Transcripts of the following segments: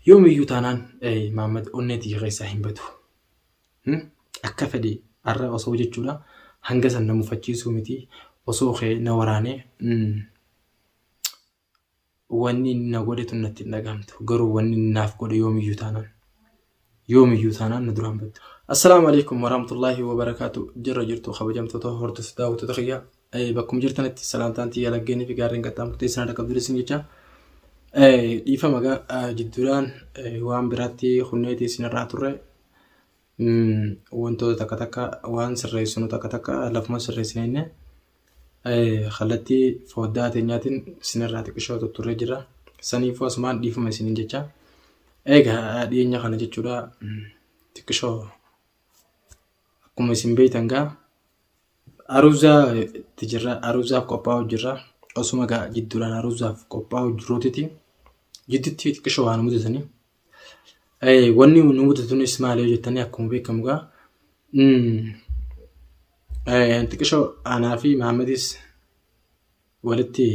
Yoomiyyuu taanaan Maammad onnee tiyya keessaa hin badu. Akka fedhe har'a osoo jechuudha hanga san na mufachiisuu miti osoo kee na waraanee wanni inni na godhe tun natti hin dhagahamtu garuu wanni inni naaf godhe yoomiyyuu taanaan. yoomiyyuu taanaan nu duraan baddu. Assalaamu alaikum warahmatullaahi wabarakaatu jirra jirtu kabajamtoota hordoftoota daawwattoota kiyya bakkuma jirtanitti salaamtaan tiyya laggeenii fi gaarreen qaxxaamurtee isin harka qabdu isin jecha dhiifama gaa jidduudhaan waan biraatti hunneetii isin irraa turre wantoota takka takka waan sirreessinu takka takka lafuma sirreessine Kallattii fooddaa teenyaatiin isinirraa xiqqishoo tutturree jirra. Saniifuu asumaan dhiifama isiniin jecha. Egaa dhiyeenya kana jechuudha xiqqishoo akkuma isin beektan gaa aruuzaa itti jirra. Aruuzaaf qophaa'uu jirra. Osuma gaa jidduudhaan aruuzaaf qophaa'uu jirruutiti jidduutti xiqqishoo waan mudatanii Eh, Wanni nu mudatunis maali yoo jettanii akkuma beekamu gaa mm, eh, xiqqishoo anaa fi Maammadis walitti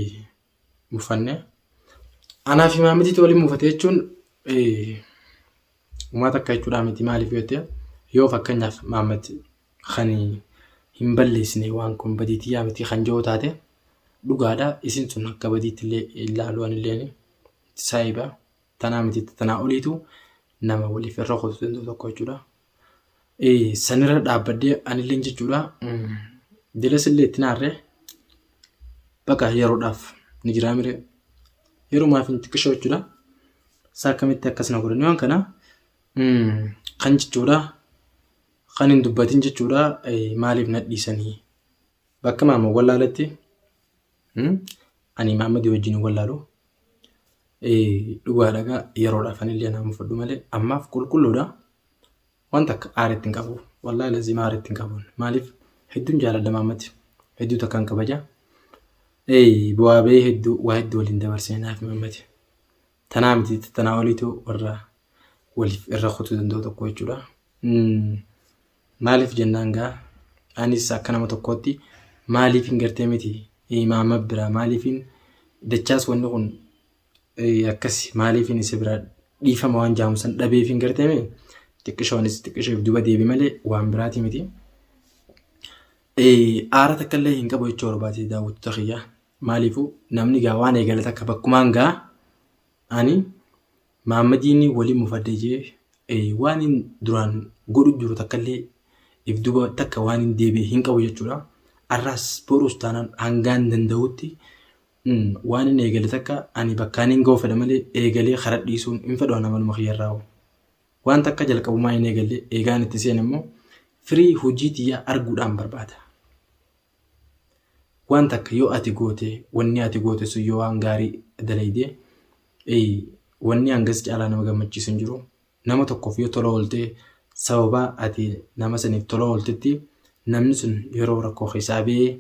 mufanne. Anaa fi Maammadiitu waliin mufate jechuun eh, umaa takka jechuudhaa miti maaliif yoo jette yoo fakkeenyaaf Maammad kan hin balleessine waan kun badiitii yaa miti kan jiru taate dhugaadha isin sun akka badiitti illee ilaaluu anillee saayiba. tanaa miti tanaa oliitu nama waliif irra kutu danda'u tokko jechuudha. Sanirra dhaabbadhee anilleen jechuudha jelas illee itti naarree baqa yeroodhaaf ni jiraa miree yerumaaf hin xiqqishoo jechuudha. Isaa akkamitti akkas na godhan waan kana kan jechuudha kan hin dubbatin jechuudha maaliif na dhiisanii Bakka Maamad wallaaletti ani Maamadii wajjin hin wallaalu. Dhugaa dhagaa yeroodhaaf ani illee nama fudhu malee ammaaf qulqulluudha. Waan takka aaritti hin qabu. Wallaahi laziima aaritti hin qabu. Maaliif hedduun jaaladha Maamadi. Hedduu takka hin kabaja. Bu'aa ba'ee hedduu waa hedduu waliin dabarsine naaf Maamadi. Tanaa miti tanaa oliitu warra waliif irra kutuu danda'u tokko jechuudha. Maaliif jennaan gaa anis akka nama tokkootti maaliifin gartee miti imaama biraa maaliifin dachaas wanni kun akkasi maaliifin isa biraa dhiifama waan jaamusan dhabeefin gartee miti xiqqishoonis xiqqisheef duba deebi malee waan biraati miti. Aara takka illee hin qabu jechuu barbaade daawwattoota kiyyaa. Maaliifu namni gaa waan eegale takka bakkumaan gaa ani Maammadiin waliin mufadhe jee waan hin duraan godhu jiru takka illee if duba takka waan hin deebi'e hin qabu jechuudha. Arraas boruus taanaan hangaan danda'utti waan hin eegale takka ani bakkaan hin ga'u fedha malee eegalee kara dhiisuun hin fedhu ana maluma kiyyarraa. Waan takka jalqabumaa hin eegalle eegaan itti seen immoo firii hojii tiyyaa arguudhaan barbaada. waan takka yoo ati goote wanni ati goote sun yoo waan gaarii dalayde wanni hangas caalaa nama gammachiisu hin jiru nama tokkoof yoo tola ooltee sababaa ati nama saniif tola ooltetti namni sun yeroo rakkoo keessaa ba'ee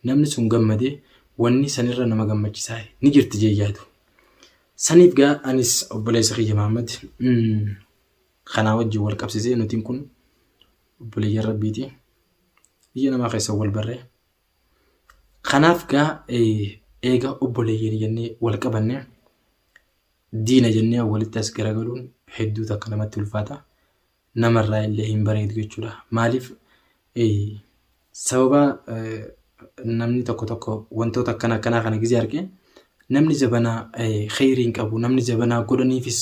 namni sun gammade wanni sanirra nama gammachiisaa ni jirti jee yaadu. Saniif gaa anis obboleessa kiyya Mahammad kanaa wajjin wal qabsisee nutiin kun obboleeyyan rabbiiti biyya namaa keessa wal barre kanaaf gaa eega obboleeyyan jennee wal qabanne diina jennee walitti as garagaluun hedduu takka namatti ulfaata namarraa illee hin bareedu jechuudha maaliif Sababa namni tokko tokko wantoota akkana akkanaa kana gizee arge namni zabanaa kheyrii hin qabu namni zabanaa godhaniifis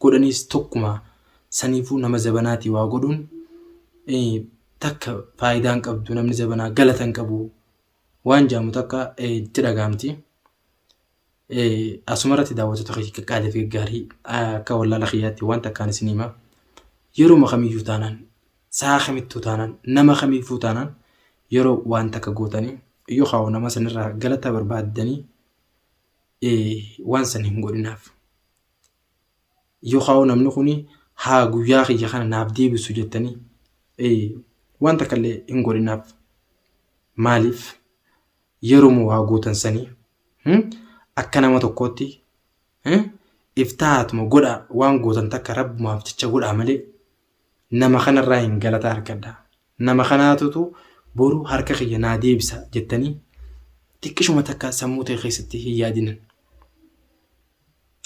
godhaniis tokkuma saniifuu nama zabanaatii waa godhuun takka faayidaa hin qabdu namni zabanaa galata hin qabu waan jaamu takka itti dhagaamti. Asuma irratti daawwattoota keenya qaqqaalee fi gaggaarii akka wallaala kiyyaatti waan takkaan isin hima. Yeruma kamiyyuu taanaan sa'a kamittuu taanaan nama kamiifuu taanaan yeroo waan takka gootanii yookaan nama sanirraa galata barbaaddanii waan san hin godhinaaf. Yookaan namni kun haa guyyaa kiyya kana naaf deebisu jettanii waan takka illee hin godhinaaf. Maaliif? Yeroma waa gootan sani hmm, akka nama tokkootti eh, iftahaatuma godhaa waan gootan takka rabbumaaf jecha godhaa malee nama kanarraa hin galata argadha nama kanaatutu boru harka kiyya naa deebisa jettanii xiqqishuma takka sammuu ta'e keessatti hin yaadinan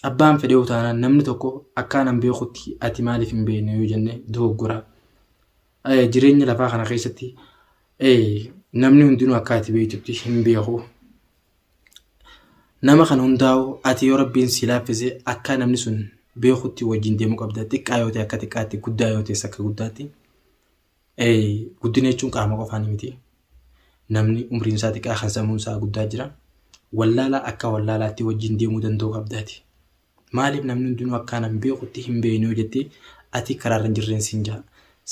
abbaan fedhee utaanaan namni tokko akkaan an beekutti ati maaliif hin beekne yoo jenne dogoggora Eh, Jireenya lafaa kana keessatti eh, namni hundinuu akka ati beektutti hin beeku. Nama kan hundaa'u ati yoo rabbiin si laaffise akka namni sun beekutti wajjin deemuu qabda. Xiqqaa yoo ta'e akka xiqqaatti, guddaa yoo ta'es akka guddaatti. Eh, Guddina jechuun qaama qofaan miti. Namni umriin isaa xiqqaa kan sammuun isaa guddaa jira. Wallaalaa akka wallaalaatti wajjin deemuu danda'uu qabdaati. Maaliif namni hundinuu akka ana hin beekutti hin beekne yoo jette ati karaarra hin jirreen siin ja'a.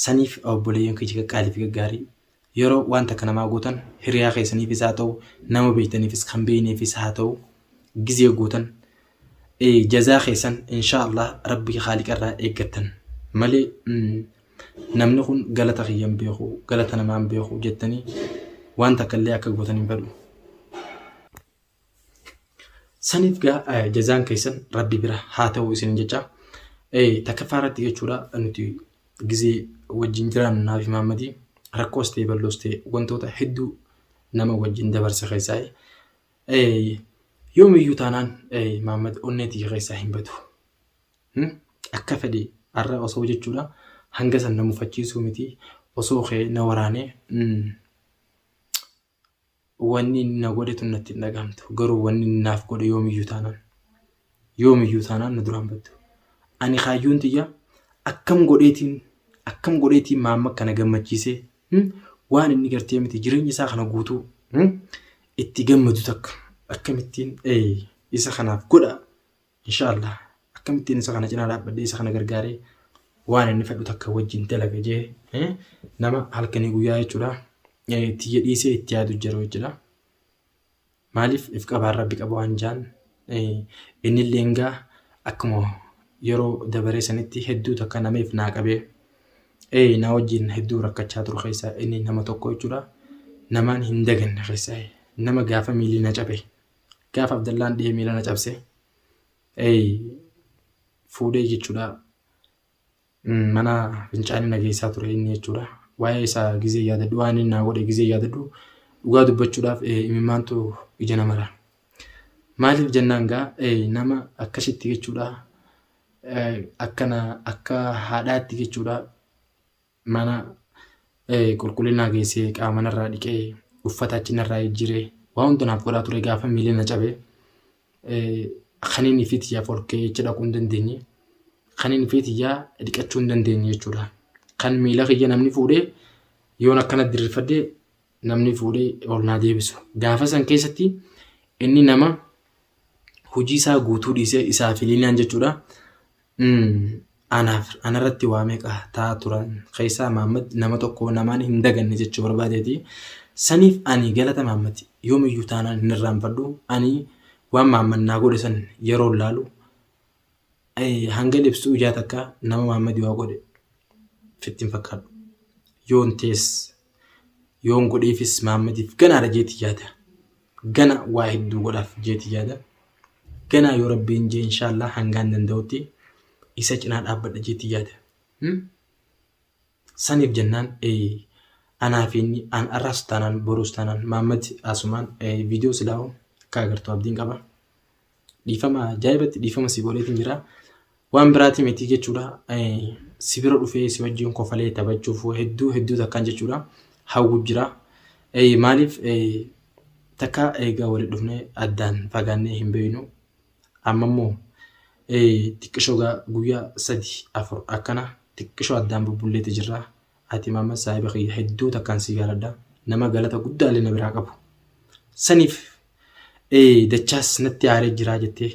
Saniif obboleeyyan kiyya qaqqaalii fi gaggaarii yeroo waan takka namaa gootan hiriyaa keessaniifis haa ta'u nama beektaniifis kan beekneefis haa ta'u gizee gootan jazaa keessan inshaa Allah rabbii haaliqa irraa eeggattan malee namni kun galata kiyya hin beeku galata namaa hin beeku jettanii waan takka illee akka gootan hin fedhu. Saniif gaa eh, jazaan keessan rabbi bira haa ta'u isin jecha eh, takkaffaa irratti jechuudha nuti gizee wajjin jiraannu naafi maammadii rakkoos ta'e balloos ta'e wantoota hedduu nama wajjin dabarsa keessaa eh, yoomiyyuu taanaan eh, maammad onnee tiyya keessaa hin badu. Hmm? Akka fedhe har'a osoo jechuudha hanga san na mufachiisuu miti osoo kee na waraanee hmm, Wanni inni na godhe tun natti hin dhagahamtu. Garuu wanni inni naaf godhe yoomiyyuu taanaan yoomiyyuu taanaan na duraa hin battu. Ani kaayyoon tiyya akkam godheetiin akkam godheetiin maamma kana gammachiisee hmm, waan inni gartee miti jireenya isaa kana guutuu hmm, itti gammadu takka akkamittiin ee, isa kanaaf godha Insha Allah akkamittiin isa kana cinaa dhaabbadhee isa kana gargaaree waan inni fedhu takka wajjin dalaga jee eh, nama halkanii guyyaa jechuudha eh, tiyya dhiisee itti yaadu jiru jechuudha. Maaliif if qabaan rabbi qaba waan jaan eh, inni illee engaa akkuma yeroo dabaree sanitti hedduu takka nama if naa qabee eh, na wajjin hedduu rakkachaa turu keessaa inni nama tokko jechuudha. Namaan hin daganne keessaa eh, nama gaafa miilii na cabe. Gaaf Abdallaan dhihee miila na cabse. Eey fuudhee jechuudha. Mana fincaanii na geessaa ture inni jechuudha. Waa'ee isaa gizee yaadadhu waan inni naa godhe gizee yaadadhu dhugaa dubbachuudhaaf imimmaantu ija namara. Maaliif jennaan gaa nama akkasitti jechuudha akkana akka haadhaatti jechuudha mana qulqullinaa geessee qaama narraa dhiqee uffata achi narraa jijjiiree waa hunda naaf godhaa ture gaafa miilli na cabe kaniinii fi tiyyaaf ol ka'ee jecha dhaquu hin dandeenye kaniinii fi tiyyaa dhiqachuu hin dandeenye jechuudha. Kan miila kiyya namni fuudhee yoon akkana diriirfadhe namni fuudhee ol naa deebisu. Gaafa san keessatti inni nama hojii isaa guutuu dhiisee isaa fi liinaan jechuudha. Anaaf anarratti waa meeqa taa turan keessaa Maammad nama tokko namaan hin daganne jechuu barbaadeeti. Saniif ani galata Maammad yoomiyyuu taanaan hin irraanfadhu. Ani waan Maammad naa godhe san yeroo laalu hanga libsu ijaa takka nama Maammad waa godhe fitti hin fakkaadhu. Yoon tees Yoon godheefis Mahaammadiif ganaadha jeeti yaada. Gana waa hedduu godhaaf jeeti yaada. Ganaa yoo Rabbiin jee inshaallaa hangaan danda'utti isa cinaa dhaabbadha jeeti yaada. Hmm? Saniif jennaan eh, anaa fi inni an arraas taanaan boruus taanaan Mahaammad asumaan eh, viidiyoo silaa'u akka agartu abdiin qaba. Dhiifama ajaa'ibatti dhiifama si godheetiin jira. Waan biraatii miti jechuudha. Si bira dhufee si wajjin kofalee taphachuuf hedduu hedduu takkaan jechuudha. Hawwu jira. Maaliif takka eegaa waliin dhufnee addaan fagaannee hin beeknu. Amma immoo xiqqishoo guyyaa sadii afur akkana xiqqishoo addaan bubbulleeti jirra. Ati Mahammad saahiba kiyya hedduu takkaan si jaaladha. Nama galata guddaallee na biraa qabu. Saniif dachaas natti aaree jiraa jettee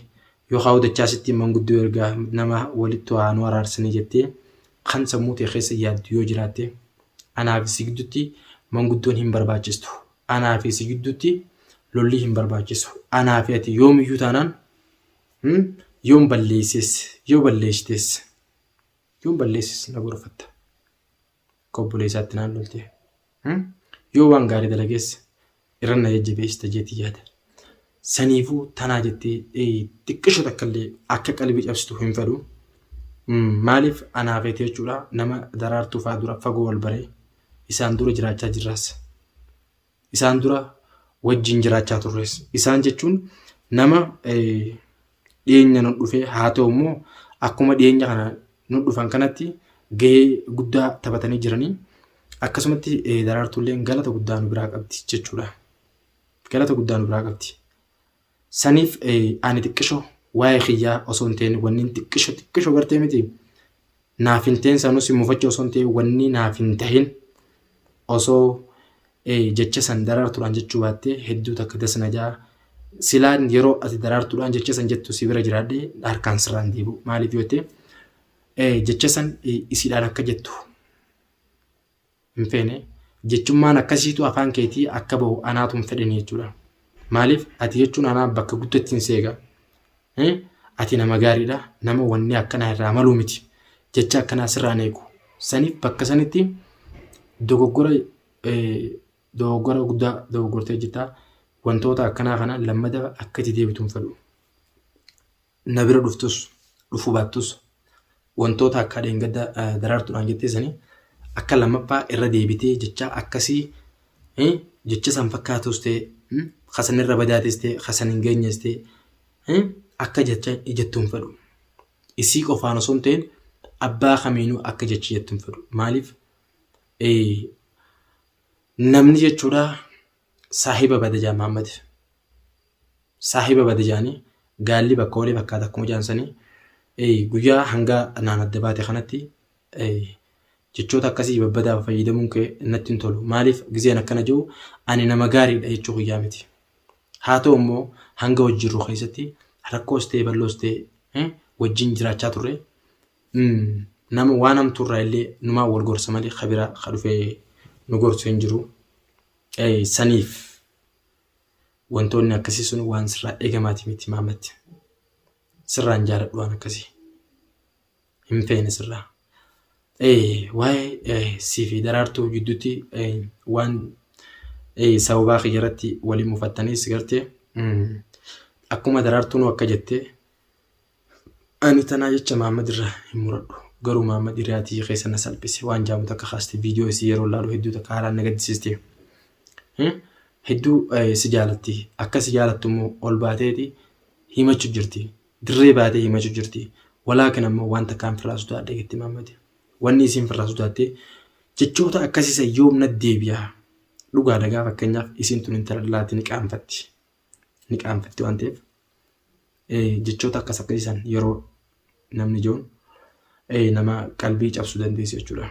yookaan dachaasittiin manguddoo ergaa nama walittu haa nu araarsanii jettee kan sammuu ta'e keessa yaaddu yoo jiraatte anaa fi si gidduutti manguddoon hin barbaachistu. Anaa fi si gidduutti lollii hin barbaachisu. Anaa fi ati yoomiyyuu taanaan yoon balleesses yoo balleessites. Yoon balleessis na gorfatta. Akka obboleessaatti naan loltee. Yoo waan gaarii dalagees irra na jajjabeessita jeetii yaada. Saniifuu tanaa jettee xiqqisho takkallee akka qalbii cabsitu hin fedhu. Maaliif anaa feete jechuudha nama daraartuu fa'aa dura fagoo wal baree isaan dura jiraachaa jirraas. Isaan dura wajjin jiraachaa turres. Isaan jechuun nama dhiyeenya nu dhufe haa ta'u immoo akkuma dhiyeenya kana nu dhufan kanatti gahee guddaa taphatanii jiranii akkasumatti daraartuulleen galata guddaa nu biraa qabdi jechuudha. Galata guddaa nu biraa qabdi. Saniif ani xiqqisho waa'ee kiyyaa osoo hin ta'in wannin xiqqisho xiqqisho gartee miti naaf hin ta'in sanuu si mufacha osoo hin ta'in wanni naaf hin ta'in osoo jecha san daraartuudhaan jechuu baattee hedduu takka das na ja'a. Silaan yeroo ati daraartuudhaan jecha san jettu si bira jiraadhee harkaan sirraan deebi'u maaliif yoo ta'e jecha san isiidhaan akka jettu hin feene jechummaan akkasiitu afaan keetii akka bahu anaatu hin fedhene jechuudha. Maaliif ati jechuun anaa bakka guddottiin si eega. Eh, Ati nama gaariidha. Nama wanni akkanaa irraa maluu miti. Jecha akkanaa sirraan eegu. Saniif bakka sanitti dogoggora eh, dogoggora guddaa dogoggortee jirta. Wantoota akkanaa kana lammada akka itti deebitu hin fedhu. na bira dhuftus dhufuu baattus wantoota akka dheengadda daraartuudhaan jettee sanii akka lammaffaa irra deebitee jechaa akkasii jecha san fakkaatus ta'e kasan irra badaatis ta'e kasan hin geenyes ta'e akka jecha jettuun fedhu. Isii qofaan osoo hin ta'in abbaa kamiinuu akka jecha jettuun fedhu. Maaliif namni jechuudha saahiba bada jaa Muhammad saahiba bada jaanii gaalli bakka oolee fakkaata akkuma jaan sanii Ee, guyyaa hanga naan adda baate kanatti ee, jechoota akkasii babbadaa fayyadamuun kee natti hin tolu maaliif gizeen akkana jiru ani nama gaariidha jechuu kiyyaa miti haa ta'u immoo hanga wajjin jirru keessatti rakkoos ta'e balloos ta'e eh, wajjin jiraachaa turre Mm, nama waan hamtuurraa illee numaa wal gorsa malee kabiraa ka dhufee nu gorsu hin jiru. saniif wantoonni akkasii sun waan sirraa eegamaati miti maamatti. Sirraan jaaladhu waan akkasii. Hin feene sirraa. Waa'ee sii fi daraartuu gidduutti waan sababaa kiyya irratti waliin mufattaniis gartee akkuma daraartuun akka jette Ani tanaa jecha Mahammad irraa hin muradhu. Garuu Mahammad hiriyaa tiyya keessa na salphise waan jaamu takka kaaste viidiyoo isii yeroo laalu hedduu takka haalaan na gaddisiiste. Hmm? Hedduu eh, si jaalatti. Akka si jaalattu immoo ol baateeti himachu jirti. Dirree baatee himachu jirti. Walaakin ammoo waan takkaan firraa sodaadhe jetti Mahammad. Wanni isiin firraa sodaatte jechoota akkasii san yoom na deebi'a. Dhugaadha gaa fakkeenyaaf isiin tun intala dhalaatti ni qaanfatti. ni qaanfatti waan ta'eef jechoota akkas akkasii san yeroo namni ijoon nama qalbii cabsuu dandeessu jechuudha.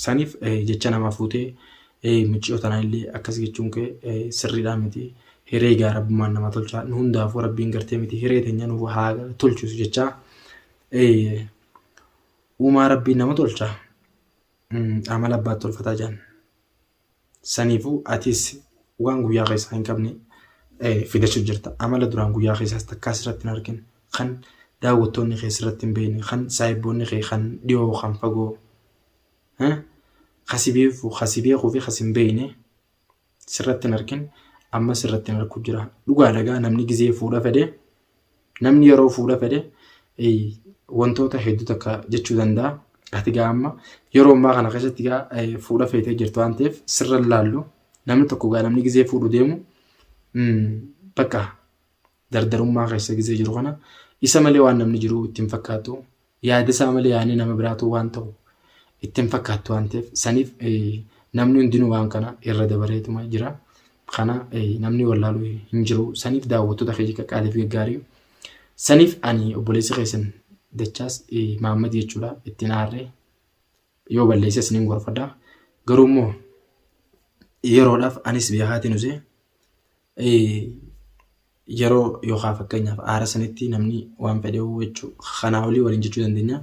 Saniif jecha namaa fuutee micciyoo tanaa illee akkas jechuun kee sirriidhaa miti hiree gaa rabbumaan nama tolchaa nu hundaafuu rabbiin gartee miti hiree teenya nuuf haa tolchuus jechaa uumaa rabbiin nama tolchaa amala abbaatti tolfataa jaan. Saniifuu atis waan guyyaa keessaa hin qabne fidachuuf jirta. Amala duraan guyyaa keessaas takkaa sirratti hin argine kan daawwattoonni kee sirratti hin beekne kan saayibboonni kee kan dhiyoo kan fagoo kasi beeku kasi beekuu fi kasi hin beekne sirratti hin argin amma sirratti hin argu jira. Dhugaa dhagaa namni gizee fuudha fedhe Namni yeroo fuudha fedhe wantoota hedduu takka jechuu danda'a. Ati gaa amma yeroo ammaa kana keessatti gaa fuudha feetee jirtu waan ta'eef sirra laallu namni tokko gaa namni gizee fuudhu deemu bakka dardarummaa keessa gizee jiru kana isa malee waan namni jiru ittiin fakkaatu Yaadasaa malee yaanni nama biraatuu waan ta'u itti hin fakkaattu waan ta'eef saniif namni hundinuu waan kana irra dabareetuma jira. Kana namni wallaalu hin jiru. Saniif daawwattoota keenya qaqqaaliif gaggaarii. Saniif ani obboleessi keessan dachaas Maammad jechuudha ittiin aarree yoo balleesse isiniin gorfadha. Garuu immoo yeroodhaaf anis beekaatiin usee yeroo yookaan fakkeenyaaf aara sanitti namni waan fedhe jechuu kanaa olii waliin jechuu dandeenya.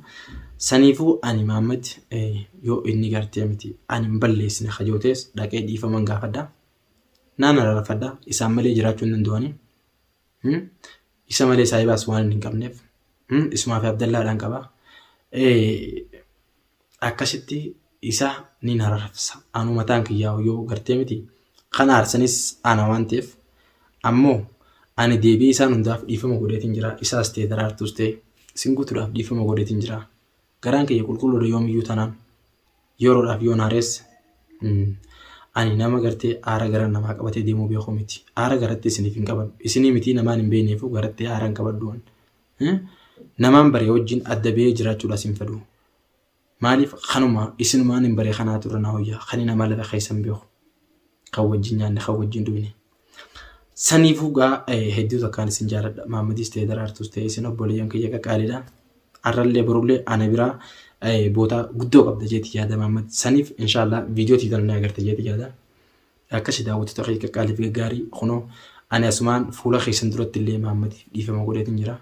Saniifuu ani Maammad yoo inni gartee miti ani hin balleessine hajootees dhaqee dhiifaman gaafadha. Naan araarfadha isaan malee jiraachuu hin danda'ani. Isa malee saahibaas waan hin qabneef isumaa fi Abdallaadhaan qaba. akkasitti isa nin ararsa anu mataan kiyyaa yoo gartee miti kan aarsanis ana waan ta'eef ammoo ani deebi'ee isaan hundaaf dhiifama godheetiin jira isaas ta'e daraartuus ta'e isin guutuudhaaf dhiifama godheetiin jira garaan kiyya qulqulluudha yoomiyyuu tanaan yeroodhaaf yoon haarees ani nama gartee aara gara namaa qabatee deemuu beekuu miti aara garatti isiniif hin qabadhu isinii mitii namaan hin beekneefuu garatti aara hin qabadhu Namaan baree wajjin adda ba'ee jiraachuudhaas hin fedhu. Maaliif kanuma isinumaan hin baree kanaatu irra na hoyyaa kan hin amala keessan beeku. Kan wajjin nyaanne kan wajjin dhugne. Saniifuu gaa hedduu takkaan isin jaaladha. Maammadiis ta'e daraartuus ta'e isin obboleeyyan kiyya qaqqaalidha. Har'allee borullee ana biraa bootaa guddoo qabda jeeti yaada maammad. Saniif inshaallah viidiyoo tiitan ni agarte jeeti yaada. Akkasi daawwattoota kee qaqqaalii fi gaggaarii kunoo ani asumaan fuula keessan duratti illee Maammadiif dhiifama godheetiin jira.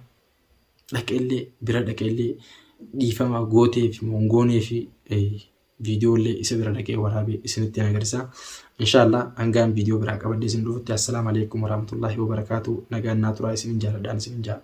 Dhaqee illee bira dhaqee illee dhiifama gootee fi mongoonee fi viidiyoo illee isa bira dhaqee waraabee isinitti hin agarsiisa. Inshaallah hangaan viidiyoo biraa qabadhee isin dhufutti assalaamu alaikum warahmatullaahi wabarakaatu nagaan naa turaa isinin jaaladhaan isinin jaala.